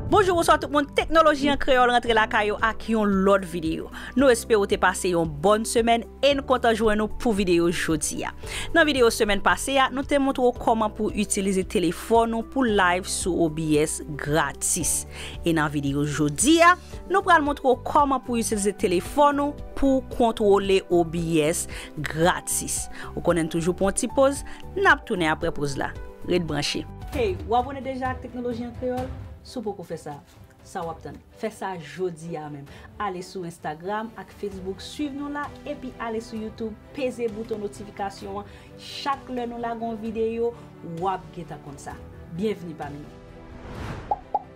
Bonjou bonswa tout moun teknoloji an kreyòl rantre lakay ou ak yon lòt videyo. Nou espere ou te pase yon bòn semèn e n kontan jwenn ou pou videyo jodi a. Nan videyo semèn pase a, nou te montre ou kòman pou w itilize telefòn ou pou live sou OBS gratis. E nan videyo jodi a, Nou pral montre w kòman pou itilize telefòn ou pou w kontwole OBS gratis. Ou konnen n toujou pran yon ti poz, n ap tounen aprè poz la. Ret branche. Hey, ou abone deja ak Teknoloji an Kreyòl? Si w poko fè sa, sa w ap tann? Fè sa jodi a menm! Ale sou Instagram ak Facebook swiv nou la epi ale sou YouTube peze bouton notifikasyon an chak lè nou lage yon videyo, w ap gentan konn sa. Byenvni pami nou!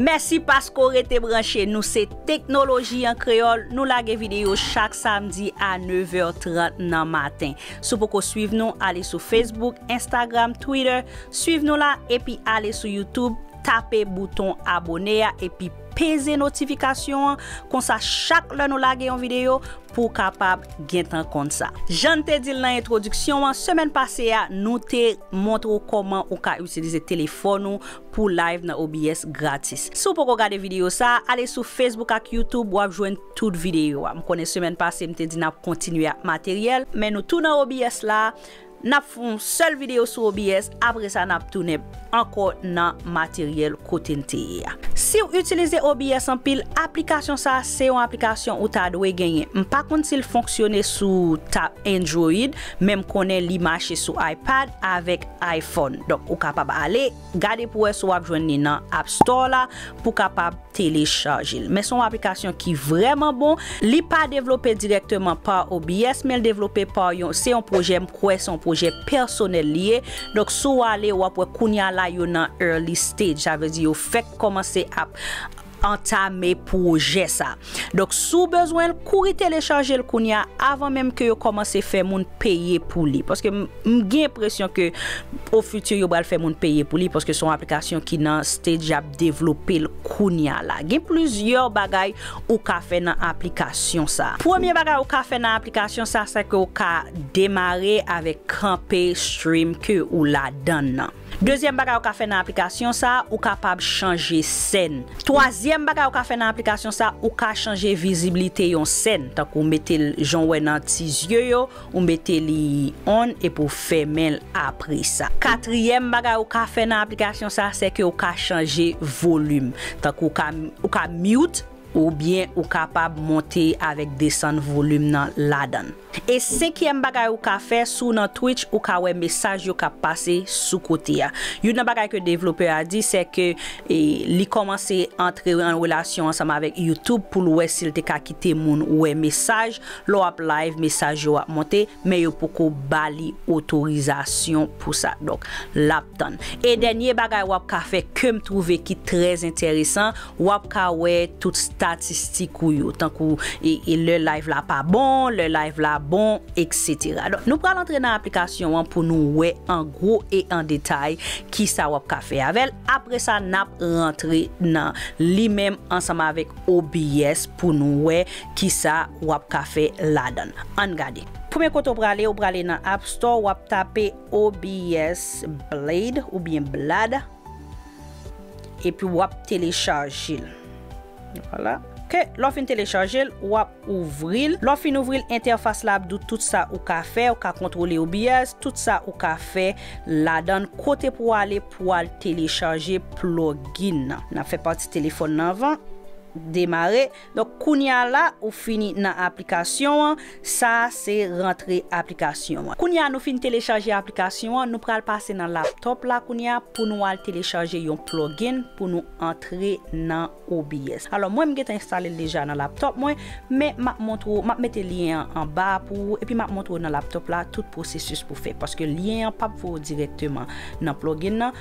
Mèsi paske w rete branche nou se Teknoloji an Kreyòl, nou lage videyo chak samdi a 9 vè 30 nan maten. Si w poko swiv nou, ale sou Facebook, Instagram, Twitter, swiv nou la, epi ale sou YouTube, tape bouton abone a epi peze notifikasyon an, konsa chak lè nou lage yon videyo, pou w kapab gentan konn sa. Jan n te di l nan entwodiksyon an, semèn pase a nou te montre w kòman ou ka itilize telefòn ou pou live nan OBS gratis. Si w poko gade videyo sa, ale sou Facebook ak YouTube wap jwenn tout videyo a. M konnen semèn pase m te di nap kontinye ak materyèl, men nou tou nan OBS la, nap fè yon sèl videyo sou OBS, apre sa nap tounen ankò nan materyèl kote n te ye a. Si w itilize OBS anpil, aplikasyon sa se yon aplikasyon ou ta dwe genyen. M pa konn si l fonksyone sou ta Android, men m konnen li mache sou iPad avèk iPhone. Donk ou kapab ale gade pou wè si wap jwenn li nan App Store la pou kapab telechaje l. Men se yon aplikasyon ki vrèman bon. Li pa devlope dirèkteman pa OBS men l devlope pa yon, se yon pwojè m kwè se yon pwojè pèsonèl li ye. Donk si w ale wap wè kounya la yo nan early stage sa vle di yo fèk kòmanse ap antame pwojè sa. Donk si w bezwen l kouri telechaje l kounya avan menm ke yo kòmanse fè moun peye pou li. Paske m gen enpresyon ke o futur yo pral fè moun peye pou li paske se yon aplikasyon ki nan stage y ap devlope l kounya la. Gen plizyè bagay ou ka fè nan aplikasyon sa. Premye bagay ou ka fè nan aplikasyon sa se ke ou ka demare avèk kanpe stream ke ou ladan nan. Dezyèm bagay ou ka fè nan aplikasyon sa a, ou kapab chanje sèn. Twazyèm bagay ou ka fè nan aplikasyon sa a, ou ka chanje viziblite yon sèn, tankou mete l jan w wè nan ti zye yo, ou mete li on epi w fèmen l apre sa. Katriyèm bagay ou ka fè nan aplikasyon sa a, se ke ou ka chanje volim, tankou ou ka ou ka mute oubyen ou kapab monte avèk desann volim nan ladan l. E senkyèm bagay ou ka fè, si w nan Twitch ou ka wè mesaj yo k ap pase sou kote a. Youn nan bagay ke devlopè a di se ke li kòmanse antre an relasyon ansanm avèk YouTube pou l wè si l te ka kite moun wè mesaj. Lè w ap live mesaj yo ap monte men yo poko ba li otorizasyon pou sa. Donk l ap tann. E dènye bagay w ap ka fè ke m twouve ki trè enteresan Wap ka wè tout statistik ou yo tankou e lè live la pa bon, lè live la bon etc. Donk nou pral antre nan aplikasyon an pou nou wè an gwo e an detay kisa wap ka fè avèl apre sa nap rantre nan li menm ansanm avèk OBS pou nou wè kisa wap ka fè ladann. Ann gade. Premye kote ou prale ou prale nan App store wap tape OBS Blade oubyen Blad. Epi wap telechajel. Vwala. Ok. Lè w fin telechajel, wap ouvri l. Lè w fin ouvri l, entèfas la ap di w tout sa ou ka fè, ou ka kontwole OBS, tout sa ou ka fè ladan. Kote pou w ale pou w al telechaje plugin nan. Nap fè pati telefòn nan anvan. Demare. Donk kounye a la ou fini nan aplikasyon an, sa a se rantre aplikasyon an. Kounye a nou fin telechaje aplikasyon an, nou pral pase nan laptop la kounye a pou nou al telechaje yon plugin pou nou antre nan OBS. Alò mwen m gentan enstale l deja nan laptop mwen, men m ap montre w, m ap mete lyen an anba a pou ou epi m ap montre w nan laptop la tout pwosesis pou fè paske lyen an p ap voye w dirèkteman nan plugin nan.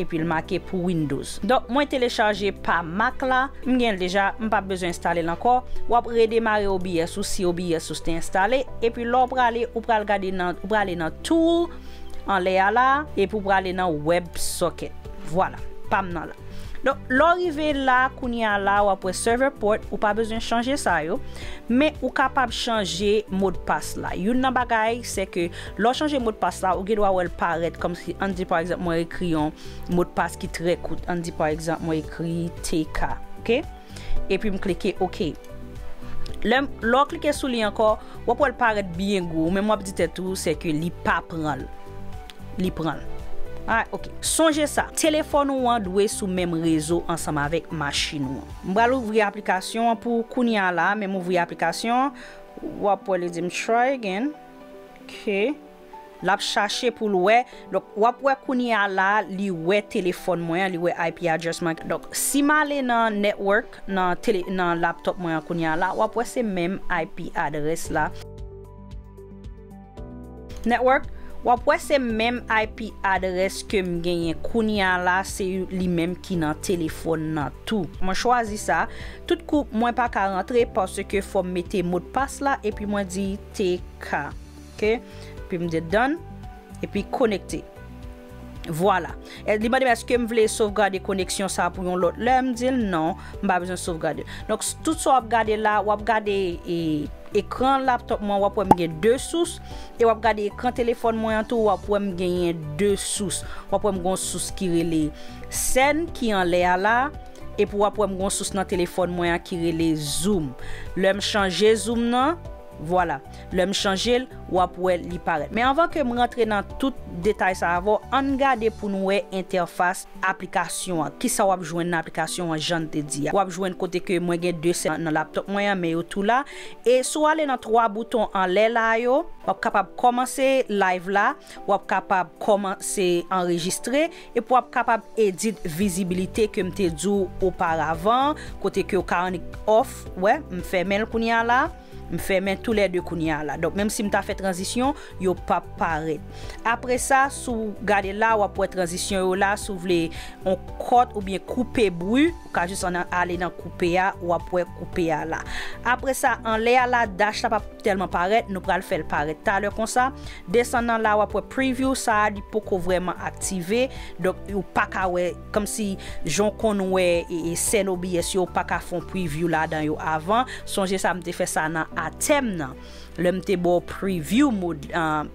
Epil make pou windows. Donk mwen telechaje pa mac la, m genl deja m pap bezwen enstalel ankò, wap redemare OBS ou si OBS ou te enstale, epi lèw prale ou pral gade nan ou prale nan tool anlè a la epi ou prale nan web socket vwala pam nan la. Donk lèw rive la kounya la wap wè server port ou pa bezwen chanje sa yo men ou kapab chanje modpas la youn nan bagay sèke Lè w chanje modpas la, ou gen dwa wè l parèt kòmsi ann di pa egzanp mwen ekri yon modpas ki trè kout, ann di pa egzanp mwen ekri TK ok, epi m klike ok. Lè m, lè w klike sou li ankò, w ap wè l parèt byen gwo, ou menm w ap di tèt ou se ke li pa pran l. Li pran l. Alright ok. Sonje sa, telefòn ou an dwe sou menm rezo ansanm avèk machin ou an. M pral ouvri aplikasyon an pou kounya la, menm ouvri aplikasyon an, w ap wè li di m try again. Ok lap chache poul wè donk wap wè kounya la li wè telefòn mwen an li wè IP address mwen donk sim ale nan network nan tele nan laptop mwen an kounya la wap wè se menm IP address la network wap wè se menm IP address kem genyen kounya la se li menm ki nan telefòn nan tou mwen chwazi sa tout kou mwen paka rantre paske fòm mete modpas la epi mwen di. TK ok epi m di done epi konekte vwala li mandem eske m vle sovgade koneksyon sa pou yon lòt lè m dil non m pa bezwen sovgade donk tout sa wap gade la wap gade ekran laptop mwen wap wèm gen 2 sous e wap gade ekran telefòn mwen an tou wap wèm genyen 2 sous wap wèm gon sous ki rele sèn ki anlè a la. Epi wap wèm gon sous nan telefòn mwen an ki rele zoom lèm chanje zoom nan vwala lèm chanjel wap wè li parèt men anvan kem rantre nan tout detay sa avèw ann gade poun wè entèfas aplikasyon an kisa wap jwenn nan aplikasyon an jann te di a wap jwenn kote ke mwen gen 2 sèl nan laptop mwen an men yo tou la e si w ale nan 3 bouton anlè la yo wap kapab kòmanse live la. Wap kapab kòman se anrejistre epi wap kapab edit vizibilite ke m te di w oparavan kote ke w ka annik off wè m fèmen l kounye a la m fèmen tou lè 2 kounye a la donk menm si m ta fè tranzisyon yo pap parèt apre sa si w gade la wap wè tranzisyon yo la si w vle on kòt oubyen koupe bri ou ka jis an ale nan koupe a wap wè koupe a la apre sa anlè a la dash la pap tèlman parèt nou pral fè l parèt talè konsa. Desann anla wap wè preview sa a li poko vrèman aktive donk ou paka wè kòmsi jan w konn wè sèn OBS yo ou paka fè yon preview ladan yo avan sonje sa m te fè sa nan atèm nan lè m te ba w preview mode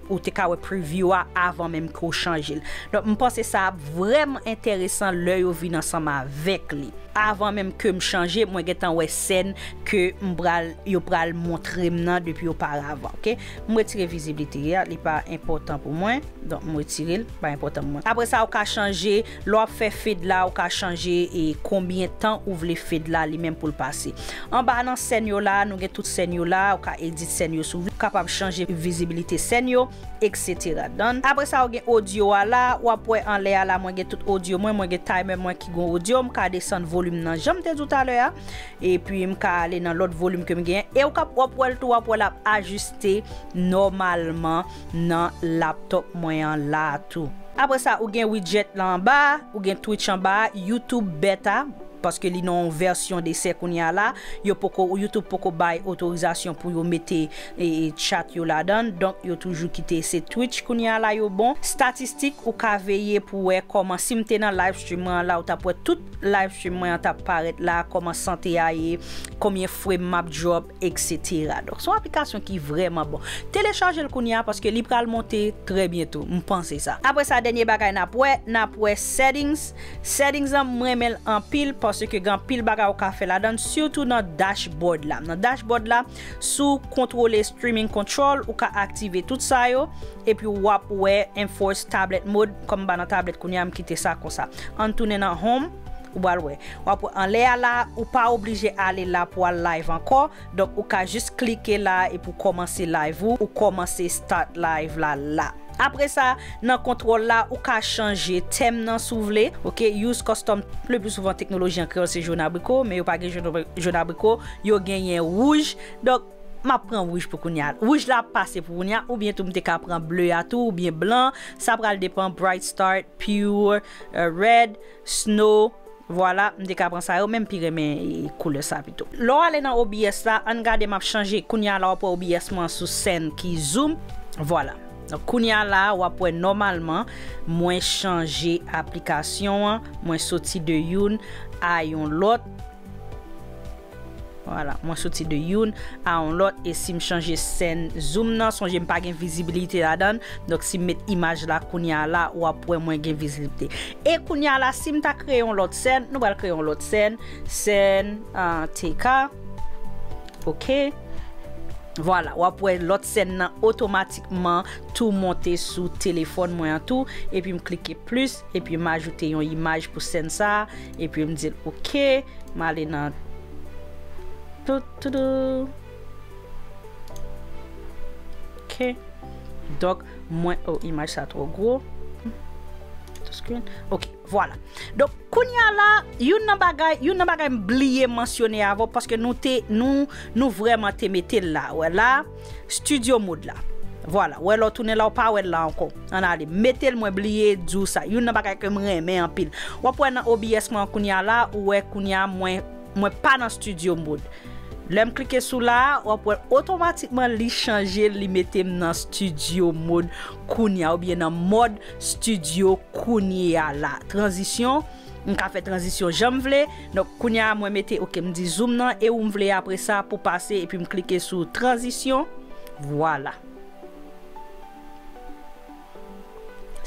ou te ka wè preview a avan menm ke w chanje l donk m panse sa ap vrèman enteresan lè yo vin ansanm avèk li avan menm ke m chanje mwen gentan wè sèn ke m pral yo pral montre m nan depi oparavan ok. M retire viziblite a li pa enpòtan pou mwen donk m retire l li pa enpòtan pou mwen. Apre sa ou ka chanje lè w ap fè fade la ou ka chanje e konbyen tan ou vle fade la li menm pou l pase. Anba nan sèn yo la nou gen tout sèn yo la ou ka edit sèn yo sou ou kapab chanje vizibilite sèn yo etc done. Apre sa ou gen audio a la ou ap wè anlè a la mwen gen tout audio mwen mwen gen timer mwen ki gen audio m ka desann volume nan jan m te di w talè a. Epi m ka ale nan lòt volim ke m gen. E ou kap wap wèl tou wap wè lap ajiste nòmalman nan laptop mwen an la tou. Apre sa ou gen widjèt lan anba a, ou gen twitch anba a, youtube beta, paske li nan yon vèsyon desè kounye a la, yo poko youtube poko bay otorizasyon pou yo mete chat yo ladann, donk yo toujou kite se twitch kounye a la yo bon. Statistik ou ka veye pou wè kòman sim te nan live stream mwen an la ou tap wè tout. Livestream mwen an tap parèt la, kòman sante a ye, konbyen frame map drop etc. Donk son aplikasyon ki vrèman bon. Telechaje l kounya paske li pral monte trè byento, m panse sa. Aprè sa dènye bagay nap wè, nap wè settings, settings lan m renmen l anpil paske gen anpil bagay ou ka fè ladan l sitou nan dashboard la. Nan dashboard la Sou Kontwole Streaming Control ou ka aktive tout sa yo epi wap wè Enforce Tablet Mode kòm m pa nan tablet kounye a m kite sa konsa. Ann tounen nan Home ou pral wè. Wap wè anlè a la ou pa oblije ale la pou al live ankò donk ou ka jis klike la epi w kòmanse live ou ou kòmanse start live la la. Apre sa, nan kontwòl la, ou ka chanje tèm nan si w vle. Ok, Use Custom Lepli souvan teknoloji an kreyòl se jòn abriko, men yo pa gen jòn abriko, yo genyen wouj. Donk, m ap pran wouj pou kounye a. Wouj la ap pase pou kounye a, oubyen tou m te ka pran ble a tou, oubyen blan. Sa pral depan, Bright Start, Pure, Red. Snow, Vwala, m te ka pran sa yo men m pi renmen koulè sa pito. Lè w ale nan OBS la, ann gade m ap chanje. Kounye a la w ap wè OBS mwen an sou sèn ki zoom. Vwala. Donk kounye a la a w ap wè nòmalman mwen chanje aplikasyon an, mwen soti de youn a yon lòt. Vwala mwen soti de youn a yon lòt e sim chanje sèn zoom nan sonje mpa gen vizibilite ladann donk sim met imaj la kounya la wap wè mwen gen vizilpte e kounya la sim ta kreye yon lòt sèn nou pral kreye yon lòt sèn sèn TK ok vwala wap wè lòt sèn nan otomatikman tou monte sou telefòn mwen an tou epi m klike plis epi m ajoute yon imaj pou sèn sa Epi m di l ok, m ale nan toutoudou. Ok, donk mwen, oh imaj sa twò gwo. Ok, vwala. Donk kounya la, youn nan bagay, youn nan bagay m bliye mansyone avè w paske nou te, nou, nou vrèman te mete l la. Wè la? Studio mode la. Vwala, wè lè w tounen la w pa wè l la ankò. Ann ale. M mete l mwen bliye di w sa. Youn nan bagay ke m renmen anpil. W ap wè nan OBS mwen an kounye a la, ou wè kounye a mwen, mwen pa nan studio mode. Lè m klike sou la a, w ap wè otomatikman li chanje l, li mete m nan studio mode kounye a oubyen nan mòd studio kounye a la. Tranzisyon. M ka fè tranzisyon janm vle, donk kounye a mwen mete ok m di zoom nan e ou m vle apresa pou pase epi m klike sou tranzisyon vwala.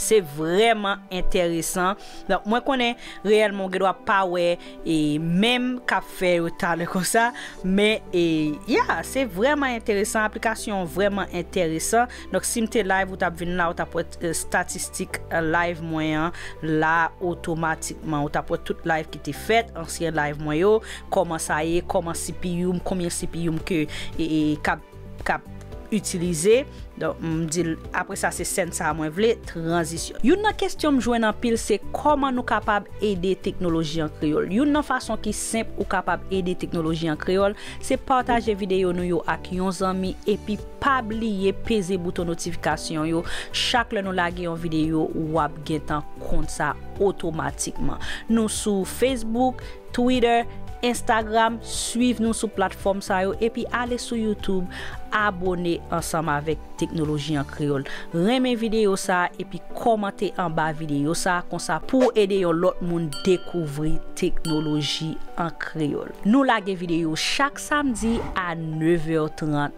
Se vrèman entèresan, donk mwen konnen reyèlman ou gen dwa pa wè e menm kap fè yo talè konsa men e ya se vrèman entèresan aplikasyon an vrèman entèresan. Donk sim te live ou tap vin la ou tap wè statistik live mwen an la otomatikman ou tap wè tout live ki te fèt ansyen live mwen yo kòman sa ye kòman CPU m konbyen CPU m ke kap itilize donk m dil apre sa se sèn sa mwen vle tranzisyon. Youn nan kestyon m jwenn anpil se kòman nou kapab ede teknoloji an kreyòl youn nan fason ki senp ou kapab ede teknoloji an kreyòl se pataje videyo nou yo ak yon zanmi epi. Pa bliye peze bouton notifikasyon yo chak lè nou lage yon videyo wap gentan konn sa otomatikman. Nou sou Facebook, Twitter, Instagram swiv nou sou platfòm sa yo epi ale sou YouTube abone ansanm avèk Teknoloji an Kreyòl. Renmen videyo sa epi kòmante anba videyo sa konsa pouw ede yon lòt moun dekouvri Teknoloji an Kreyòl. Nou lage videyo chak samdi a 9 è 30.